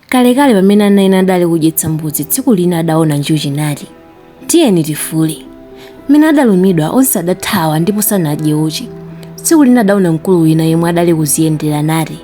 Kalekale pamene ana ena adali kudyetsa mbuzi, tsiku lina adaona njuchi nati, Tiyeni tifule. Mmene adalumidwa, onse adathawa ndipo sanadye uchi. Tsiku lina adaona mkulu wina yemwe adali kuziyendera nati,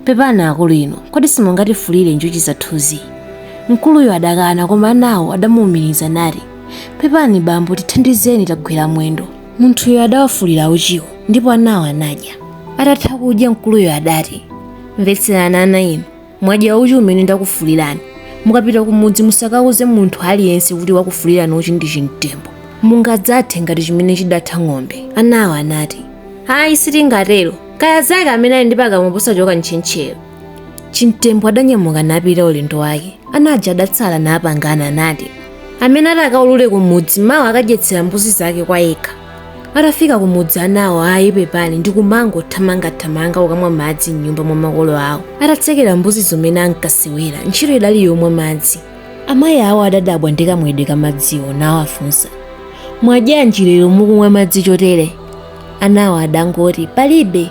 Pepani akulu inu, kodi simungatifulire njuchi zathuzi? Mkuluyo adakana koma anawo adamuumiriza nati, Pepani bambo tithandizeni tagwera mwendo. Munthuyo adawafulira uchiwo ndipo anawo anadya. Atatha kudya mkuluyo adati, Mvetserani ana inu. mwadya uchi umene ndakufulirani mukapita kumudzi musakauze munthu aliyense kuti wakufulirani uchi ndi chimtembo mungadzathe ndi chimene chidatha ng'ombe anawo anati ayi sitingatero kaya zake amene ali ndi pakamwa posachoka ntchentchero chimtembo adanyamuka napita ulendo wake ana aja adatsala napangana nati amene atakaulule kumudzi mawa akadyetsera mbuzi zake kwa yekha atafika kumudzi anawo ayi pepani ndi kumangothamangathamanga kukamwa madzi m'nyumba mwa makolo awo atatsekera mbuzi zo mmene ankasewera ntchito idali yomwa madzi amayi awo adadabwa ndi kamwedwe ka madziwo nawafunsa mwadyanji lero mukumwa madzi chotere anawo adangoti palibe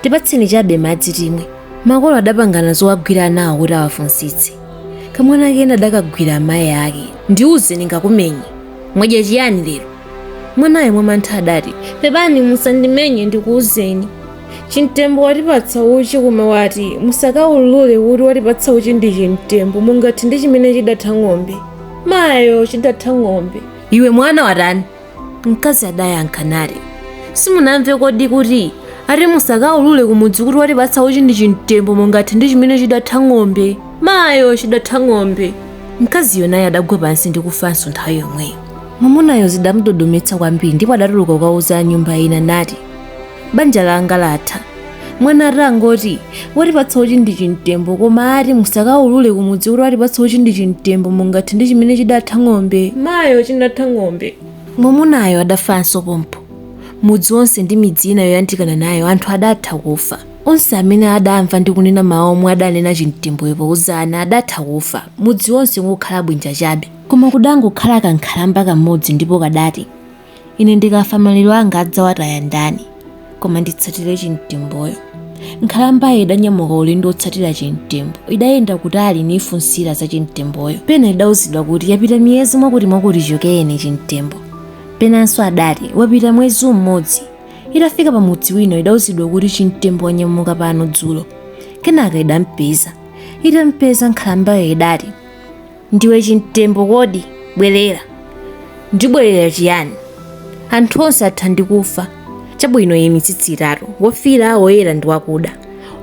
tipatseni chabe madzi timwe makolo adapangana zowagwira anawo kuti awafunsitse kamwana kena adakagwira amayi ake ndiuze ndingakumenye mwadya chiyani lero Mwanayo mwamantha adati, Pepani musandimenye ndikuuzeni. Chimtembo watipatsa uchi koma wati musakaulule kuti watipatsa uchi ndi chimtembo mungathe ndi chimene chidatha ng'ombe. Mayo chidatha ng'ombe. Iwe mwana watani? Mkazi adayankha nati, Simunamve kodi kuti ati musakaulule kumudzi kuti watipatsa uchi ndi chimtembo mungathe ndi chimene chidatha ng'ombe. Mayo chidatha ng'ombe. Mkaziyo naye adagwa pansi ndi kufanso nthawi yomweyo. Mwamunayo zidamudodometsa kwambiri ndipo adatuluka kukauza a nyumba ina nati, Banja langa latha. Mwana atangoti, watipatsa uchi ndi chimtembo koma ati musakaulule kumudzi kuti watipatsa uchi ndi chimtembo mungathe ndi chimene chidatha ng'ombe. Mayo chinatha ng'ombe. Mwamunayo adafanso pompho. Mudzi wonse ndi midzi ina yoyandikana nayo anthu adatha kufa. Onse amene adamva ndi kunena mawu omwe adanena chimtemboyo pouza ana adatha kufa, mudzi wonse n'kukhala bwinja chabe. Koma kudangokhala kankhalamba kamodzi ndipo kadati, Ine ndikafa maliro anga adzawataya ndani? Koma nditsatire chimtemboyo. Nkhalambayo idanyamuka ulendo wotsatira chimtembo. Idayenda kutali niifunsira za chimtemboyo. Pena idauzidwa kuti, Yapita miyezi mwakutimwakuti chichokereni chimtembo. Penanso adati, Wapita mwezi umodzi. Itafika pamudzi wina idauzidwa kuti, Chimtembo wanyamuka pano dzulo. Kenaka idampeza. Itampeza, nkhalambayo idati. Ndiwe chimtembo kodi? Bwerera! Ndibwerera chiyani? Anthu onse atha ndi kufa. Chabwino, nayi mitsitsi itatu, wofiira, woyera ndi wakuda.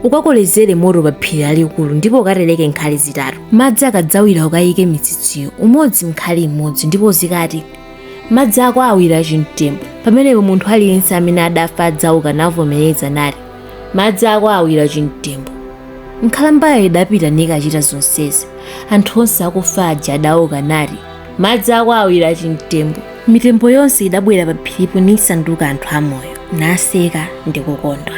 Ukakolezere moto pa phiri lalikulu ndipo ukatereke nkhali zitatu. Madzi akadzawira ukayike mitsitsiyo, umodzi m'nkhali imodzi ndipo uzikati, Madzi ako awira chimtembo. Pamenepo munthu aliyense amene adafa adzauka navomereza nati, madzi ako awira chimtembo nkhalambayo idapita nikachita zonsezi anthu onse akufa aja adauka nati madzi ako awira chimtembo mitembo yonse idabwera pa phiripo nisanduka anthu amoyo naseka ndi kukondwa